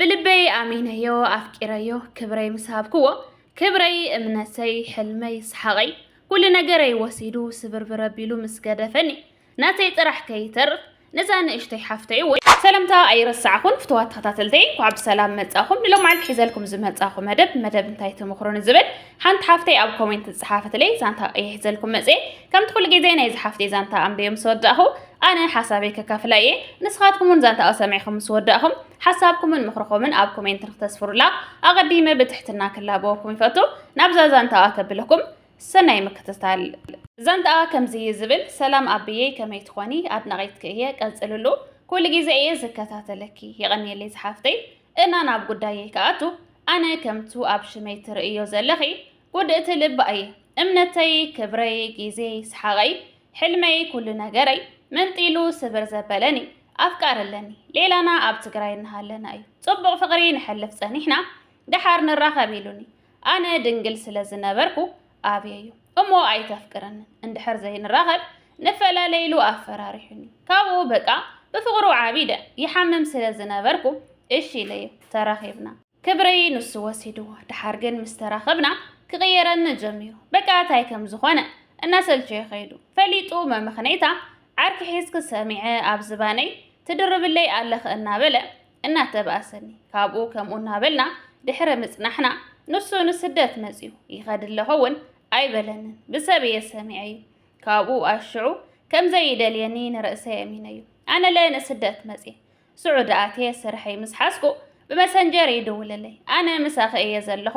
ብልበይ ኣሚነዮ ኣፍቂረዮ ክብረይ ምስ ሃብክዎ ክብረይ እምነተይ ሕልመይ ሰሓቐይ ኩሉ ነገረይ ወሲዱ ስብርብር ኣቢሉ ምስ ገደፈኒ ናተይ ጥራሕ ከይተርፍ ነዛ ንእሽተይ ሓፍተይ እውን ሰላምታ ኣይረሳዕኹን ፍትዋት ተኸታተልተይ እንኳዕ ብሰላም መጻኹም ንሎም መዓልቲ ሒዘልኩም ዝመጻኹ መደብ መደብ እንታይ ተመኽሮ ንዝብል ሓንቲ ሓፍተይ ኣብ ኮሜንት ዝጸሓፈትለይ ዛንታ ቀይሕ ዘልኩም መጽኤ ከምቲ ኩሉ ግዜ ናይዚ ሓፍተይ ዛንታ ኣንበዮም ሰወዳእኹ ኣነ ሓሳበይ ከካፍላ እየ ንስኻትኩም እውን ዛንታኣ ሰሚዕኹም ምስ ወዳእኹም ሓሳብኩምን ምኽርኹምን ኣብ ኮሜንት ንክተስፍሩላ ኣቐዲመ ብትሕትና ክላበወኩም ይፈቱ ናብዛ ዛንታኣ ከብለኩም ሰናይ ምክትታል ዛንታኣ ከምዚ እዩ ዝብል ሰላም ኣብየይ ከመይ ትኾኒ ኣድናቒትኪ እየ ቀፅልሉ ኩሉ ግዜ እየ ዝከታተለኪ የቐንየለይ ዝሓፍተይ እና ናብ ጉዳየይ ክኣቱ ኣነ ከምቱ ኣብ ሽመይ ትርእዮ ዘለኺ ውድእቲ ልባይ እምነተይ ክብረይ ጊዜይ ሰሓቐይ ሕልመይ ኩሉ ነገረይ መንጢሉ ስብር ዘበለኒ ኣፍቃሪ ኣለኒ ሌላና ኣብ ትግራይ እናሃለና እዩ ጽቡቕ ፍቕሪ ንሐልፍ ጸኒሕና ደሓር ንራኸብ ኢሉኒ ኣነ ድንግል ስለ ዝነበርኩ ኣብየዩ እሞ ኣይተፍቅረንን እንድሕር ዘይንራኸብ ንፈላለ ኢሉ ኣፈራሪሑኒ ካብኡ በቃ ብፍቕሩ ዓቢደ ይሓምም ስለ ዝነበርኩ እሺ ኢለዮ ተራኺብና ክብረይ ንሱ ወሲድዎ ድሓር ግን ምስ ተራኸብና ክቕየረኒ ጀሚሩ በቃ ታይ ከም ዝኾነ እናሰልቸዮ ከይዱ ፈሊጡ መመኽነይታ ዓርኪ ሒዝኪ ሰሚዐ ኣብ ዝባነይ ትድርብለይ ኣለኺ እናበለ እናተባእሰኒ ካብኡ ከምኡ እናበልና ድሕሪ ምጽናሕና ንሱ ንስደት መጺኡ ይኸድ ኣለኹ እውን ኣይበለንን ብሰብ እየ ሰሚዐ እዩ ካብኡ ኣሽዑ ከምዘይደልየኒ ንርእሰይ ኣሚነዩ ኣነለ ንስደት መጽ ስዑዲ ኣትየ ስርሐይ ምስ ሓዝኩ ብመሰንጀር ይድውለለይ፣ ኣነ ምሳኺ እየ ዘለኹ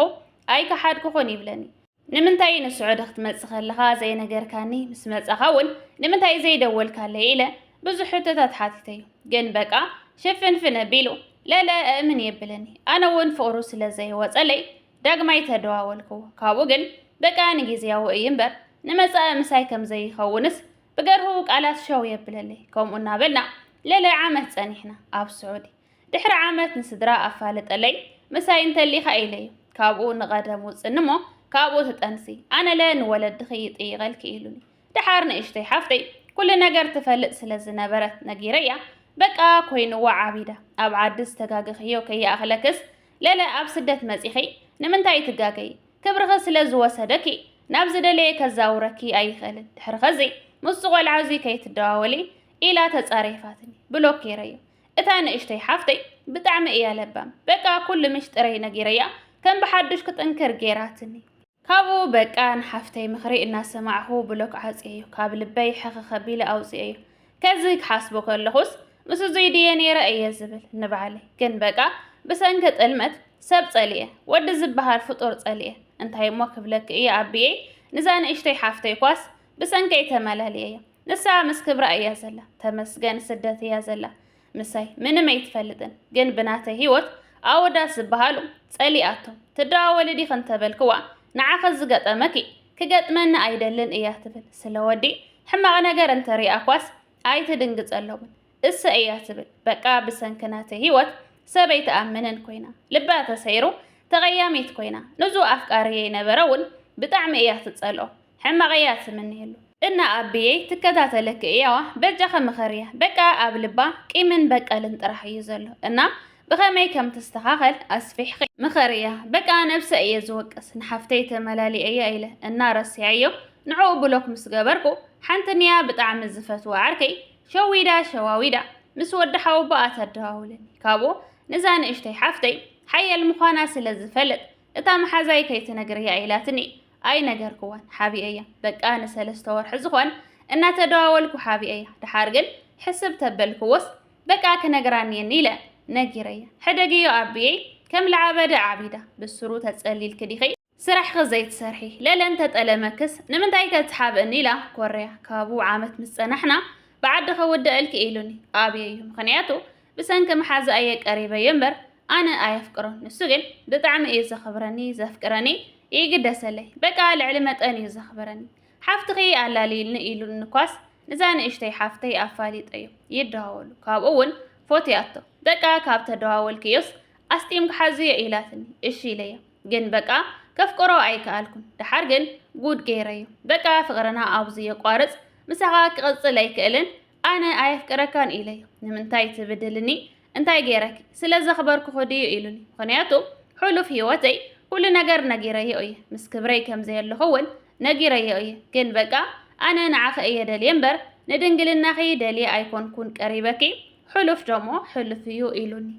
ኣይከሓድኩኹን ይብለኒ። ንምንታይ ንስዑዲ ክትመጽእ ከለኻ ዘይነገርካኒ፣ ምስ መጻኻ እውን ንምንታይ ዘይደወልካለይ ኢለ ብዙሕ ሕቶታት ሓቲተዩ። ግን በቃ ሽፍንፍን ኣቢሉ ለለ እእምን የብለኒ። ኣነ እውን ፍቕሩ ስለ ዘይወጸለይ ዳግማይ ተደዋወልክዎ። ካብኡ ግን በቃ ንጊዝያዊ እዩ እምበር ንመጻኢ ምሳይ ከም ዘይኸውንስ ብገርሁ ቃላት ሸው የብለለይ ከምኡ እናበልና ለለ ዓመት ጸኒሕና ኣብ ስዑዲ ድሕሪ ዓመት ንስድራ ኣፋለጠለይ ምሳይ እንተሊኻ ኢለዩ ካብኡ ንቐደም ውፅኒ እሞ ካብኡ ትጠንሲ ኣነለ ንወለድኺ ይጥይቐልኪ ኢሉኒ ደሓር ንእሽተይ ሓፍተይ ኩሉ ነገር ትፈልጥ ስለ ዝነበረት ነጊረያ በቃ ኮይንዋ ዓቢዳ ኣብ ዓዲ ዝተጋገኽዮ ከይኣኽለክስ ለለ ኣብ ስደት መጺኺ ንምንታይ ትጋገይ ክብርኺ ስለ ዝወሰደኪ፣ ናብ ዝደለየ ከዛውረኪ ኣይኽእልን፣ ድሕሪ ኸዚ ምስዚ ቆልዓ እዚ ከይትደዋወሊ ኢላ ተጻሪፋትኒ፣ ብሎኬረዮ። እታ ንእሽተይ ሓፍተይ ብጣዕሚ እያ ለባም፣ በቃ ኩሉ ምሽጥረይ ነጊረያ ከም ብሓዱሽ ክጥንክር ጌራትኒ። ካብኡ በቃ ንሓፍተይ ምኽሪ እናሰማዕኹ ብሎክ ዓጽየዮ፣ ካብ ልበይ ሕኽኽ ኣቢለ ኣውጺኤዮ። ከዚ ክሓስቦ ከለኹስ ምስ እዙይ ድየ ነይረ እየ ዝብል ንባዕለይ። ግን በቃ ብሰንኪ ጥልመት ሰብ ጸሊኤ፣ ወዲ ዝበሃል ፍጡር ጸሊኤ። እንታይ እሞ ክብለኪ እየ ኣቢየይ፣ ንዛ ንእሽተይ ሓፍተይ እኳስ ብሰንከይ ተመላሊኤያ። ንሳ ምስ ክብራ እያ ዘላ፣ ተመስገን ስደት እያ ዘላ። ምሳይ ምንም ኣይትፈልጥን ግን ብናተይ ህይወት ኣወዳት ዝበሃሉ ጸሊኣቶም ትደዋወሊ ዲኺ እንተበልክዋ ንዓኺ ዝገጠመኪ ክገጥመኒ ኣይደልን እያ ትብል ስለ ወዲ ሕማቕ ነገር እንተሪኣኳስ ኣይትድንግጸሎምን እሰ እያ ትብል በቃ ብሰንኪ ናተይ ህይወት ሰበይ ትኣምንን ኮይና ልባ ተሰይሩ ተቐያሚት ኮይና ንዙ ኣፍቃርየይ ነበረ እውን ብጣዕሚ እያ ትጸልኦ ሕማቅ እያ ትምነየሉ። እና ኣቢየይ ትከታተለኪ እያዋ በጃኺ ምኸርያ በቃ ኣብ ልባ ቂምን በቀልን ጥራሕ እዩ ዘሎ እና ብኸመይ ከም ትስተኻኸል ኣስፊሕኺ ምኸርያ በቃ ነብሰይ እየ ዝወቅስ ንሓፍተይ ተመላሊኤያ ኢለ እና ረሲዐዮ ንዕኡ ብሎክ ምስ ገበርኩ ሓንቲ ንያ ብጣዕሚ ዝፈትዋ ዓርከይ ሸዊዳ ሸዋዊዳ ምስ ወዲ ሓወቦኣ ተደዋውለኒ ካብኡ ንዛ ንእሽተይ ሓፍተይ ሓያል ምዃና ስለ ዝፈልጥ እታ መሓዛይ ከይትነግርያ ኢላትኒ ኣይነገርክዋን ሓቢኤያ በቃ ንሰለስተ ወርሒ ዝኾን እናተደዋወልኩ ሓቢኤያ ድሓር ግን ሕስብ ተበልክዎስ በቃ ክነግራ ኔኒ ኢለ ነጊረያ ሕደግዮ ኣቢየይ ከም ልዓበደ ዓቢዳ ብስሩ ተጸሊልኪ ዲኺ ስራሕኺ ዘይትሰርሒ ለለ እንተጠለመክስ ንምንታይ ከትሓብእኒ ኢላ ኮርያ ካብኡ ዓመት ምስ ጸናሕና ብዓዲ ከውደኣልኪ ኢሉኒ ኣብየዩ ምኽንያቱ ብሰንኪ መሓዝኣ እየ ቀሪበዮ እምበር ኣነ ኣየፍቅሮን ንሱ ግን ብጣዕሚ እዩ ዘኽብረኒ ዘፍቅረኒ ይግደሰለይ በቃ ልዕሊ መጠን እዩ ዘኽብረኒ ሓፍትኺ ኣላልይልኒ ኢሉኒ ኳስ ንዛ ንእሽተይ ሓፍተይ ኣፋሊጠዮ ይደዋወሉ ካብኡ እውን ፎትያቶ በቃ ካብ ተደዋወልክዮስ ኣስጢም ክሓዝዮ ኢላትኒ እሺ ኢለያ ግን በቃ ከፍቅሮ ኣይከኣልኩን ደሓር ግን ጉድ ገይረዮ በቃ ፍቅርና ኣብዚ የቋርፅ ምሳኻ ክቕፅል ኣይክእልን ኣነ ኣየፍቅረካን ኢለዮ። ንምንታይ ትብድልኒ? እንታይ ገይረኪ? ስለ ዘኽበርኩኺ ድዩ ኢሉኒ። ምኽንያቱ ሕሉፍ ህይወተይ ኩሉ ነገር ነጊረዮ እየ። ምስ ክብረይ ከም ዘየለኹ እውን ነጊረዮ እየ። ግን በቃ ኣነ ንዓኺ እየ ደልየ እምበር ንድንግልናኺ ደልየ ኣይኮንኩን ቀሪበኪ። ሕሉፍ ደሞ ሕሉፍ እዩ ኢሉኒ።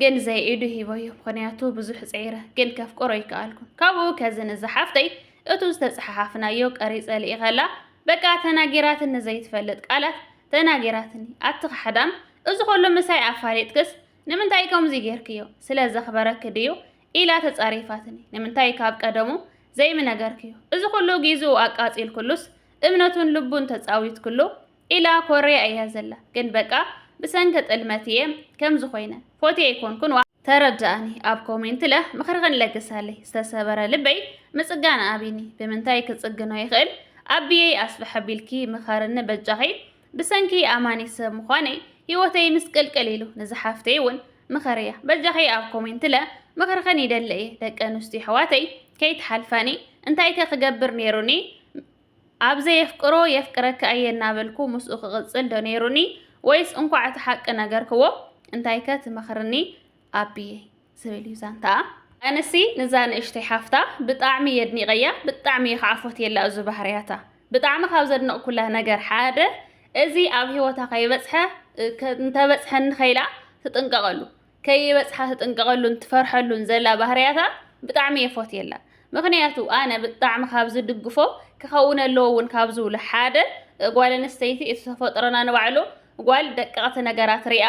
ግን ዘይ ኢዱ ሂበዮ ምክንያቱ ብዙሕ ጽዒረ ግን ከፍቅሮ ኣይከኣልኩን ካብኡ ከዚ ንዛ ሓፍተይ እቱ ዝተጸሓሓፍናዮ ቀሪጸ ልኢኸላ በቃ ተናጊራትኒ ዘይትፈልጥ ቃላት ተናጊራትኒ ኣቲ ካሕዳም እዚ ኩሉ ምሳይ ኣፋሊጥክስ ንምንታይ ከምዚ ጌርክዮ ስለ ዘኽበረኪ ድዩ ኢላ ተጻሪፋትኒ ንምንታይ ካብ ቀደሙ ዘይምነገርክዮ እዚ ኩሉ ጊዝኡ ኣቃጺልክሉስ እምነቱን ልቡን ተጻዊትክሉ ኢላ ኮርያ እያ ዘላ ግን በቃ ብሰንኪ ጥልመት እየ ከምዚ ኮይነ ፎቴ ኣይኮንኩን ዋ ተረድኣኒ ኣብ ኮሜንት ለ ምኽርኽን ለግሳለይ ዝተሰበረ ልበይ ምፅጋን ኣብኒ ብምንታይ ክፅግኖ ይኽእል ኣቢየይ ኣስፍሕ ኣቢልኪ ምኸርኒ በጃኺ ብሰንኪ ኣማኒ ሰብ ምዃነይ ህይወተይ ምስቅልቅል ኢሉ ንዝሓፍተይ እውን ምኸርያ በጃኺ ኣብ ኮሜንት ለ ምኽርኽን ይደሊ እየ ደቂ ኣንስትዮ ኣሕዋተይ ከይትሓልፋኒ እንታይከ ክገብር ነይሩኒ ኣብ ዘየፍቅሮ የፍቅረኪ ኣየ እናበልኩ ምስኡ ክቕጽል ዶ ነይሩኒ ወይስ እንኳዕ እቲ ሓቂ ነገርክዎ እንታይከ ትመኽርኒ ኣቢየይ ዝብል እዩ ዛንታኣ። ኣነሲ ንዛ ንእሽተይ ሓፍታ ብጣዕሚ የድኒቀያ ብጣዕሚ እየ ከዓ ፎትየላ እዙ ባህርያታ ብጣዕሚ ካብ ዘድነቅኩላ ነገር ሓደ እዚ ኣብ ሂወታ ከይበፅሐ እንተበፅሐኒ ከይላ ትጥንቀቀሉ ከይበጽሓ ትጥንቀቀሉን ትፈርሐሉን ዘላ ባህርያታ ብጣዕሚ እየ ፎትየላ ምክንያቱ ኣነ ብጣዕሚ ካብ ዝድግፎ ክከውን ኣለዎ እውን ካብ ዝብሎ ሓደ ጓል ኣንስተይቲ እቲ ተፈጥሮና ንባዕሉ ጓል ደቀቅቲ ነገራት ሪኣ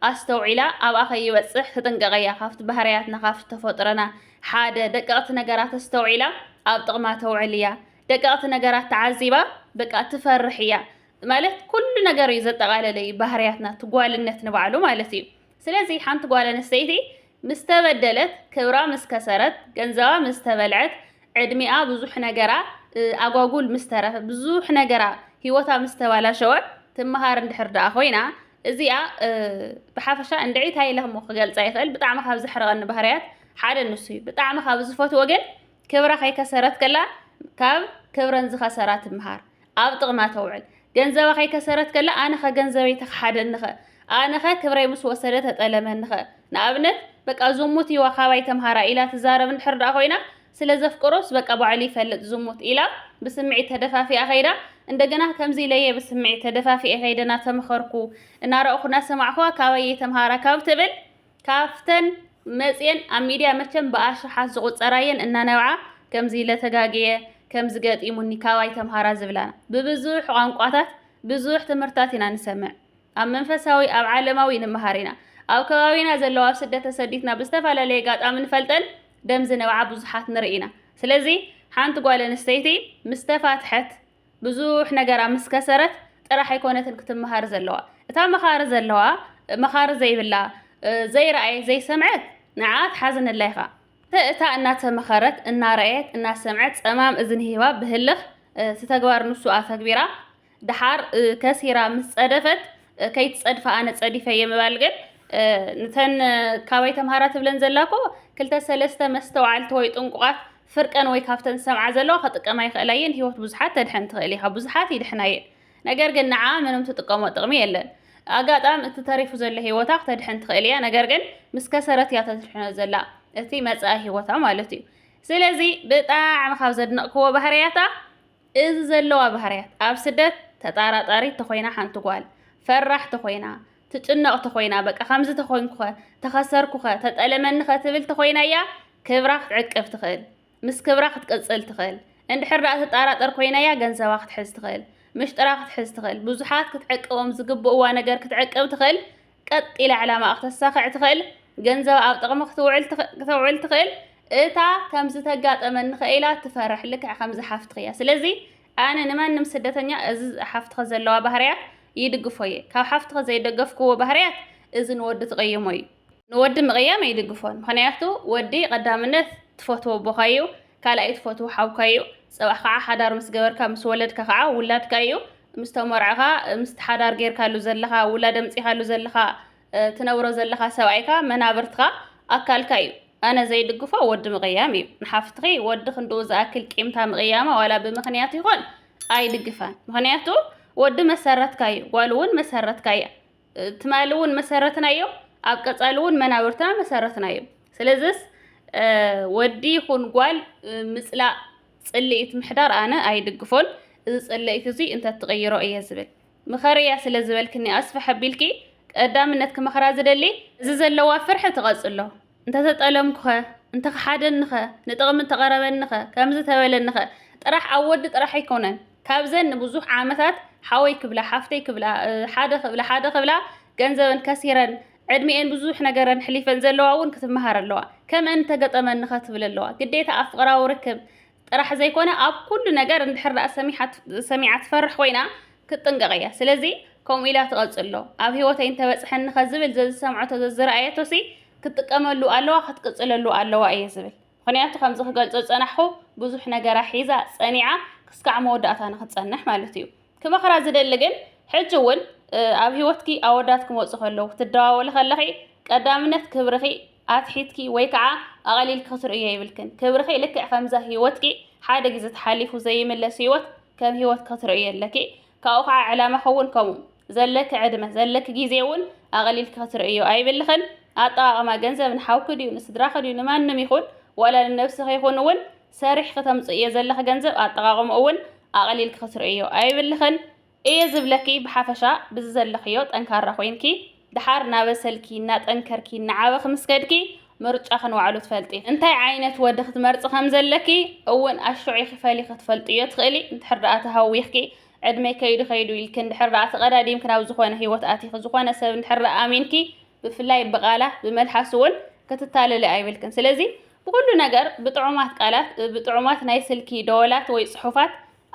ኣስተውዒላ ኣብኣ ከይበጽሕ ትጥንቀቀ እያ ካብቲ ባህርያትና ካብቲ ተፈጥሮና ሓደ ደቀቅቲ ነገራት ኣስተውዒላ ኣብ ጥቅማ ተውዕል እያ ደቀቅቲ ነገራት ተዓዚባ በቃ ትፈርሕ እያ ማለት ኩሉ ነገር እዩ ዘጠቃለለ እዩ ባህርያትና ትጓልነት ንባዕሉ ማለት እዩ ስለዚ ሓንቲ ጓል ኣንስተይቲ ምስ ተበደለት፣ ክብራ ምስ ከሰረት፣ ገንዘባ ምስ ተበልዐት፣ ዕድሚኣ ብዙሕ ነገራ ኣጓጉል ምስ ተረፈ፣ ብዙሕ ነገራ ህይወታ ምስ ተባላሸወ ትመሃር እንድሕር ደኣ ኮይና እዚኣ ብሓፈሻ እንድዒ ታይ ኢለ እሞ ክገልጻ ይኽእል ብጣዕሚ ካብ ዘሕርቐኒ ባህርያት ሓደ ንሱ እዩ። ብጣዕሚ ካብ ዝፈትዎ ግን ክብራ ከይከሰረት ከላ ካብ ክብረን ዝኸሰራ ትመሃር። ኣብ ጥቕማ ተውዕል። ገንዘባ ከይከሰረት ከላ ኣነ ከ ገንዘበይ ተክሓደኒ ከ? ኣነ ከ ክብረይ ምስ ወሰደ ተጠለመኒ ከ? ንኣብነት በቃ ዝሙት እዩዋ ካባይ ተምሃራ ኢላ ትዛረብ እንድሕር ደኣ ኮይና ስለ ዘፍቅሮስ በቃ ባዕሉ ይፈልጥ ዝሙት ኢላ ብስምዒት ተደፋፊኣ ከይዳ እንደገና ከምዚ ኢለየ ብስምዒት ተደፋፊኤ ከይደ ናተመኸርኩ እናረእኹ ናሰማዕኹዋ ካባይ እየ ተምሃራ ካብ ትብል ካብተን መጽየን ኣብ ሚድያ መቸም ብኣሽሓት ዝቑጸራ'የን እናነብዓ ከምዚ ኢለ ተጋግየ፣ ከምዚ ገጢሙኒ ካባይ ተምሃራ ዝብላና። ብብዙሕ ቋንቋታት ብዙሕ ትምህርትታት ኢና ንሰምዕ። ኣብ መንፈሳዊ ኣብ ዓለማዊ ንምሃር ኢና። ኣብ ከባቢና ዘለዋ ኣብ ስደት ተሰዲትና ብዝተፈላለየ ኣጋጣሚ ንፈልጠን ደም ዝነብዓ ብዙሓት ንርኢ ኢና። ስለዚ ሓንቲ ጓል ኣንስተይቲ ምስ ተፋትሐት፣ ብዙሕ ነገራ ምስ ከሰረት ጥራሕ ኣይኮነትን ክትመሃር ዘለዋ እታ መኻሪ ዘለዋ መኻሪ ዘይብላ ዘይረኣየት ዘይሰምዐት ንዓ ትሓዝነላ ኢኻ እታ እናተመኸረት እናረኣየት እናሰምዐት ጸማም እዝኒ ሂባ ብህልኽ እቲ ተግባር ንሱ ኣተግቢራ ደሓር ከሲራ ምስ ጸደፈት ከይትጸድፋ ኣነ ጸዲፈ እየ ምባል ግን ንተን ካባይ ተምሃራ ትብለን ዘላ እኮ ክልተ ሰለስተ መስተውዓልቲ ወይ ጥንቁቓት ፍርቀን ወይ ካብተን ዝሰምዓ ዘለዋ ከጥቀማ ይኽእላ እየን ህይወት ብዙሓት ተድሕን ትኽእል ኢኻ ብዙሓት ይድሕና እየን ነገር ግን ንዓ ምንም ትጥቀሞ ጥቕሚ የለን ኣጋጣም እቲ ተሪፉ ዘሎ ህይወታ ክተድሕን ትኽእል እያ ነገር ግን ምስ ከሰረት እያ ተድሕኖ ዘላ እቲ መጻኢ ህይወታ ማለት እዩ ስለዚ ብጣዕሚ ካብ ዘድነቕክዎ ባህርያታ እዚ ዘለዋ ባህርያት፣ ኣብ ስደት ተጣራጣሪት ተኾይና ሓንቲ ጓል፣ ፈራሕ ተኾይና፣ ትጭነቕ ተኾይና፣ በቃ ከምዚ ተኾይንኩኸ፣ ተኸሰርኩኸ፣ ተጠለመኒኸ ትብል ተኾይና'ያ ክብራ ክትዕቅብ ትኽእል። ምስ ክብራ ክትቅጽል ትኽእል። እንድሕር ደኣ ትጣራጠር ኮይና'ያ ገንዘባ ክትሕዝ ትኽእል። ምሽጥራ ክትሕዝ ትኽእል። ብዙሓት ክትዕቅቦም ዝግብኡዋ ነገር ክትዕቅብ ትኽእል። ቀጥ ኢላ ዕላማኣ ክተሳኽዕ ትኽእል፣ ገንዘባ ኣብ ጥቕሚ ክተውዕል ትኽእል፣ እታ ከምዚ ተጋጠመኒ ከ ኢላ ትፈርሕ ልክዕ ከምዚ ሓፍትኺ እያ። ስለዚ ኣነ ንማንም ስደተኛ እዚ ሓፍትኺ ዘለዋ ባህርያት ይድግፎ እየ። ካብ ሓፍትኺ ዘይደገፍክዎ ባህርያት እዚ ንወዲ ትቕይሞ እዩ። ንወዲ ምቕያም ኣይድግፎን ምኽንያቱ ወዲ ቀዳምነት ትፈትዎ ኣቦኻ እዩ። ካልኣይ ትፈትዎ ሓውካ ኢዩ ጽባሕ ካዓ ሓዳር ምስ ገበርካ ምስ ወለድካ ካዓ ውላድካ ኢዩ ምስ ተመርዕኻ ምስቲ ሓዳር ገርካሉ ዘለኻ ውላድ ኣምጺኻሉ ዘለኻ ትነብሮ ዘለኻ ሰብኣይካ መናብርትካ ኣካልካ ኢዩ ኣነ ዘይድግፎ ወዲ ምቕያም ኢዩ ንሓፍትኺ ወዲ ክንድኡ ዝኣክል ቂምታ ምቕያማ ዋላ ብምኽንያት ይኾን ኣይድግፋን ምኽንያቱ ወዲ መሰረትካ ኢዩ ጓል ውን መሰረትካ ኢያ ትማሊ እውን መሰረትና እዮም፣ ኣብ ቀፃሊ እውን መናብርትና መሰረትና እዮም። ስለዚስ ወዲ ይኹን ጓል ምፅላእ ፅልኢት ምሕዳር ኣነ ኣይድግፎን። እዚ ፅልኢት እዚ እንተትቕይሮ እየ ዝብል ምኸርያ ስለ ዝበልክኒ ኣስፍሕ ኣቢልኪ ቀዳምነት ክመኽራ ዝደሊ እዚ ዘለዋ ፍርሒ ትቐፅሎ እንተተጠለምኩኸ? እንተኸሓደኒኸ? ንጥቕሚ እንተቐረበኒኸ? ከምዚ ተበለኒኸ? ጥራሕ ኣብ ወዲ ጥራሕ ኣይኮነን። ካብዘን ንብዙሕ ዓመታት ሓወይ ክብላ፣ ሓፍተይ ክብላ፣ ሓደ ክብላ፣ ሓደ ክብላ ገንዘበን ከሲረን፣ ዕድሚኤን ብዙሕ ነገረን ኣሕሊፈን ዘለዋ እውን ክትመሃር ኣለዋ። ከምእን እንተገጠመኒኸ ትብል ኣለዋ። ግዴታ ኣብ ፍቕራዊ ርክብ ጥራሕ ዘይኮነ ኣብ ኩሉ ነገር እንድሕር ደኣ ሰሚዓ ትፈርሕ ኮይና ክትጥንቀቕ እያ ስለዚ ከምኡ ኢላ ትቐጽሎ ኣብ ህይወተይ እንተበጽሐኒ ከዝብል ዘዝሰምዐቶ ዘዝረኣየቶ ሲ ክትጥቀመሉ ኣለዋ ክትቅጽለሉ ኣለዋ እየ ዝብል ምክንያቱ ከምዚ ክገልጾ ዝጸናሕኹ ብዙሕ ነገራ ሒዛ ጸኒዓ ክስካዕ መወዳእታ ንክትጸንሕ ማለት እዩ ክመኽራ ዝደሊ ግን ሕጂ እውን ኣብ ህይወትኪ ኣወዳት ክመፁ ከለዉ ክትደዋወሊ ከለኺ ቀዳምነት ክብርኺ ኣትሒትኪ ወይ ከዓ ኣቐሊልኪ ክትርእዮ የብልክን። ክብርኺ ልክዕ ከምዛ ህይወትኪ ሓደ ግዜ ተሓሊፉ ዘይምለስ ህይወት ከም ህይወት ክትርእዮ ኣለኪ። ካብኡ ከዓ ዕላማኺ እውን ከምኡ። ዘለኪ ዕድመ፣ ዘለኪ ግዜ እውን ኣቐሊልኪ ክትርእዮ ኣይብልኽን። ኣጠቓቕማ ገንዘብ ንሓውኪ ድዩ ንስድራኺ ድዩ ንማንም ይኹን ዋላ ንነብስኺ ይኹን እውን ሰሪሕ ክተምጽእዮ ዘለኺ ገንዘብ ኣጠቓቕምኡ ውን ኣቐሊልኪ ክትርእይዮ ኣይብልኽን እየ ዝብለኪ ብሓፈሻ ብዝዘለኽዮ ጠንካራ ኮይንኪ ደሓር ናበሰልኪ ናጠንከርኪ ናዓበ ክምስከድኪ ምርጫኺ ንባዕሉ ትፈልጢ እንታይ ዓይነት ወዲ ክትመርጺ ከምዘለኪ እውን ኣሽዑ ኢኺ ፈሊኺ ክትፈልጥዮ ትኽእሊ እንድሕር ደኣ ተሃዊኽኪ ዕድመይ ከይዱ ከይዱ ኢልኪ እንድሕር ደኣ ተቐዳዲምኪ ናብ ዝኾነ ህይወት ኣቲኺ ዝኾነ ሰብ እንድሕር ደኣ ኣሚንኪ ብፍላይ ብቓላ ብመልሓሱ እውን ክትታለሊ ኣይብልክን ስለዚ ብኹሉ ነገር ብጥዑማት ቃላት፣ ብጥዑማት ናይ ስልኪ ደወላት ወይ ጽሑፋት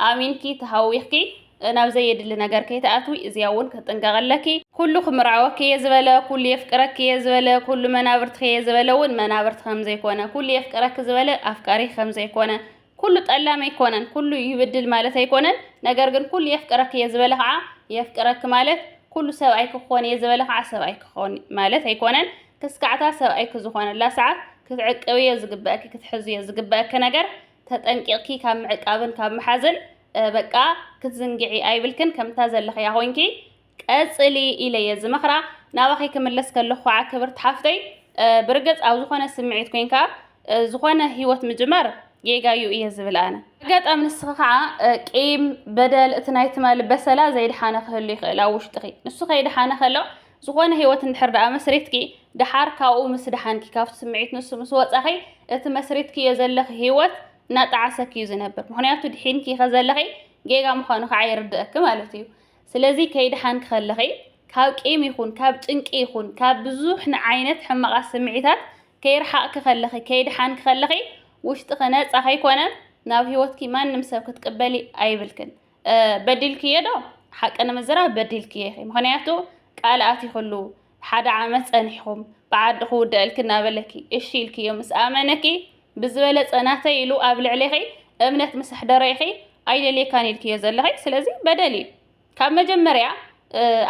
ኣሚንኪ ተሃዊኽኪ ናብ ዘየድሊ ነገር ከይትኣትዊ እዚኣ እውን ክጥንቀቕ ኣለኪ። ኩሉ ክምርዓወኪ'የ ዝበለ፣ ኩሉ የፍቅረኪ'የ ዝበለ፣ ኩሉ መናብርትኺ'የ ዝበለ እውን መናብርትኺ ከምዘይኮነ፣ ኩሉ የፍቅረኪ ዝበለ ኣፍቃሪኺ ከምዘይኮነ፣ ኩሉ ጠላም ኣይኮነን ኩሉ ይብድል ማለት ኣይኮነን ነገር ግን ኩሉ የፍቅረክ እየ ዝበለ ከዓ የፍቅረክ ማለት ኩሉ ሰብኣይ ክኾን እየ ዝበለ ከዓ ሰብኣይ ክኾን ማለት ኣይኮነን ክስካዕታ ሰብኣይ ክዝኾነላ ሰዓት ክትዕቅብ እየ ዝግበእኪ ክትሕዙ እየ ዝግበእኪ ነገር ተጠንቂቕኪ ካብ ምዕቃብን ካብ ምሓዝን በቃ ክትዝንግዒ ኣይብልክን ከምታ ዘለኽያ ኮይንኪ ቀጽሊ ኢለ እየ ዝመኽራ። ናባኺ ክምለስ ከለኹ ኸዓ ክብርቲ ሓፍተይ ብርግጽ ኣብ ዝኾነ ስምዒት ኮይንካ ዝኾነ ሂወት ምጅማር ጌጋ እዩ እየ ዝብል ኣነ። ኣጋጣሚ ንስኺ ኸዓ ቂም፣ በደል፣ እቲ ናይ ትማሊ በሰላ ዘይደሓነ ክህሉ ይኽእል ኣብ ውሽጥኺ። ንሱ ከይደሓነ ከሎ ዝኾነ ሂወት እንድሕር ደኣ መስሪትኪ ደሓር ካብኡ ምስ ደሓንኪ ካብቲ ስምዒት ንሱ ምስ ወጻኺ እቲ መስሪትክዮ ዘለኺ ሂወት እናጠዓሰኪ እዩ ዝነብር። ምኽንያቱ ድሒንኪ ከዘለኺ ጌጋ ምዃኑ ኸዓ ይርድኣኪ ማለት እዩ። ስለዚ ከይደሓንኪ ከለኺ ካብ ቂም ይኹን ካብ ጭንቂ ይኹን ካብ ብዙሕ ንዓይነት ሕማቓት ስምዒታት ከይረሓቕኪ ከለኺ ከይደሓንኪ ከለኺ ውሽጥኺ ነጻ ከይኮነ ናብ ህይወትኪ ማንም ሰብ ክትቅበሊ ኣይብልክን። በዲልክዮ ዶ? ሓቂ ንምዝራብ በዲልክዮ ኢኺ ምኽንያቱ ቃል ኣቲኽሉ ሓደ ዓመት ጸኒሕኩም ብዓዲ ክውደኣልኪ እናበለኪ እሺ ኢልክዮ ምስ ኣመነኪ ብዝበለጸ ናተይ ኢሉ ኣብ ልዕሌኺ እምነት ምስ ኣሕደረ ኢኺ ኣይደልየካን ኢልክዮ ዘለኺ ስለዚ በደል እዩ ካብ መጀመርያ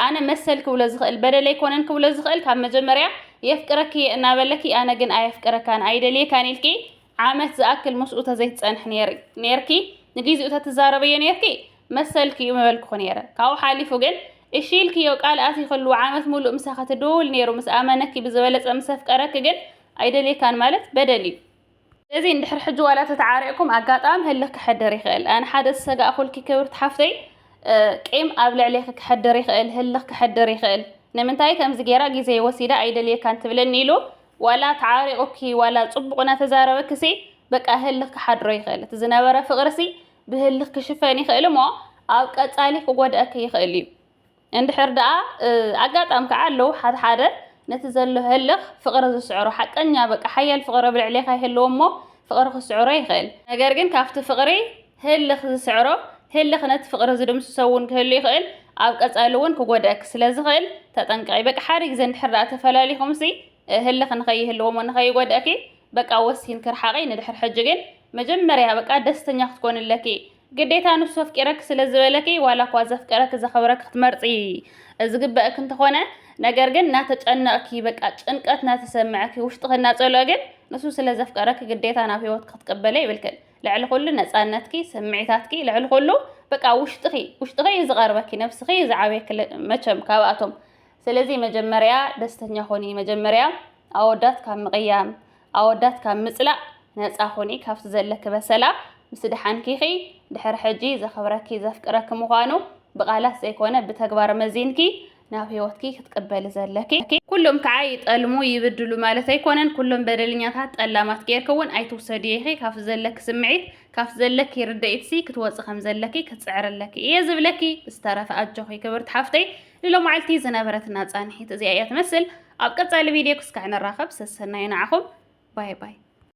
ኣነ መሰል ክብሎ ዝኽእል በደል ኣይኮነን ክብሎ ዝኽእል ካብ መጀመርያ የፍቅረኪ እየ እናበለኪ ኣነ ግን ኣየፍቅረካን ኣይደልየካን ኢልኪ ዓመት ዝኣክል ምስኡ ተዘይትጸንሕ ነይሪ ነይርኪ ንግዜኡ ተትዛረበዮ ነይርኪ መሰልኪ እዩ ምበልኩኺ ነይረ። ካብኡ ሓሊፉ ግን እሺ ኢልክዮ ቃል ኣቲኽሉ ዓመት ሙሉእ ምሳኺ ትድውውል ነይሩ ምስ ኣመነኪ ብዝበለፀ ምስ ኣፍቀረኪ ግን ኣይደልየካን ማለት በደል እዩ። ስለዚ እንድሕር ሕጂ ዋላ ተተዓሪቕኩም ኣጋጣሚ ህልኽ ክሐድር ይኽእል። ኣነ ሓደ ዝሰጋእኹልኪ ክብርቲ ሓፍተይ ቂም ኣብ ልዕሌኺ ክሐድር ይኽእል ህልኽ ክሐድር ይኽእል ንምንታይ ከምዚ ገይራ ግዜ ወሲዳ ኣይደልየካን ትብለኒ ኢሉ ዋላ ተዓሪቑኪ ዋላ ፅቡቕ እናተዛረበኪ ሲ በቃ ህልኽ ክሓድሮ ይኽእል እቲ ዝነበረ ፍቕሪ ሲ ብህልኽ ክሽፈን ይኽእል እሞ ኣብ ቀጻሊ ክጎድኣኪ ይኽእል እዩ። እንድሕር ደኣ ኣጋጣሚ ከዓ ኣለዉ ሓደ ሓደ ነቲ ዘሎ ህልኽ ፍቕሪ ዝስዕሮ ሓቀኛ በቃ ሓያል ፍቕሪ ኣብ ልዕሌኻ ይህልዎ እሞ ፍቕሪ ክስዕሮ ይኽእል። ነገር ግን ካብቲ ፍቕሪ ህልኽ ዝስዕሮ ህልኽ ነቲ ፍቕሪ ዝድምስሶ እውን ክህሉ ይኽእል፣ ኣብ ቀጻሊ እውን ክጎድኣኪ ስለ ዝኽእል ተጠንቀቒ። በቃ ሓደ ግዜ እንድሕር ደኣ ተፈላሊኹምሲ ህልኽ ንኸይህልዎ እሞ ንኸይጎድኣኪ በቃ ወሲንኪ ርሓቂ ንድሕር ሕጂ ግን መጀመርያ በቃ ደስተኛ ክትኮኒ ኣለኪ ግዴታ ንሱ ኣፍቂረኪ ስለ ዝበለኪ ዋላ እኳ ዘፍቀረኪ ዘክብረኪ ክትመርጺ ዝግበእኪ እንተኮነ ነገር ግን ናተጨነቅኪ በቃ ጭንቀት ናተሰመዐኪ ውሽጥኪ እናጸልኦ ግን ንሱ ስለ ዘፍቀረኪ ግዴታ ናብ ሂወትኪ ክትቅበልዮ የብልክን ልዕሊ ኩሉ ነጻነትኪ ስምዒታትኪ ልዕሊ ኩሉ በቃ ውሽጥኪ ውሽጥኪ እዩ ዝቀርበኪ ነብስኪ እዩ ዝዓብየኪ መቸም ካብኣቶም ስለዚ መጀመርያ ደስተኛ ኮኒ መጀመርያ ኣወዳት ካብ ምቕያም ኣወዳት ካብ ምጽላእ ነጻ ኹኒ ካብቲ ዘለኪ በሰላ ምስ ድሓንኪኺ ድሕሪ ሕጂ ዘኽብረኪ ዘፍቅረኪ ምዃኑ ብቓላት ዘይኮነ ብተግባር መዚንኪ ናብ ህይወትኪ ክትቅበሊ ዘለኪ ኩሎም ከዓ ይጠልሙ ይብድሉ ማለት ኣይኮነን ኩሎም በደልኛታት ጠላማት ጌርኪ እውን ኣይትውሰድዮ ኢኺ ካብቲ ዘለኪ ስምዒት ካብቲ ዘለኪ ርድኢትሲ ክትወፂ ከም ዘለኪ ክትፅዕሪ ኣለኪ እየ ዝብለኪ ብዝተረፈ ኣጆኺ ክብርቲ ሓፍተይ ንሎማዕልቲ ዝነበረትና ጻንሒት እዚኣ እያ ትመስል። ኣብ ቀጻሊ ቪድዮ ክስካዕ ንራኸብ። ሰሰናዩ ንዓኹም። ባይ ባይ።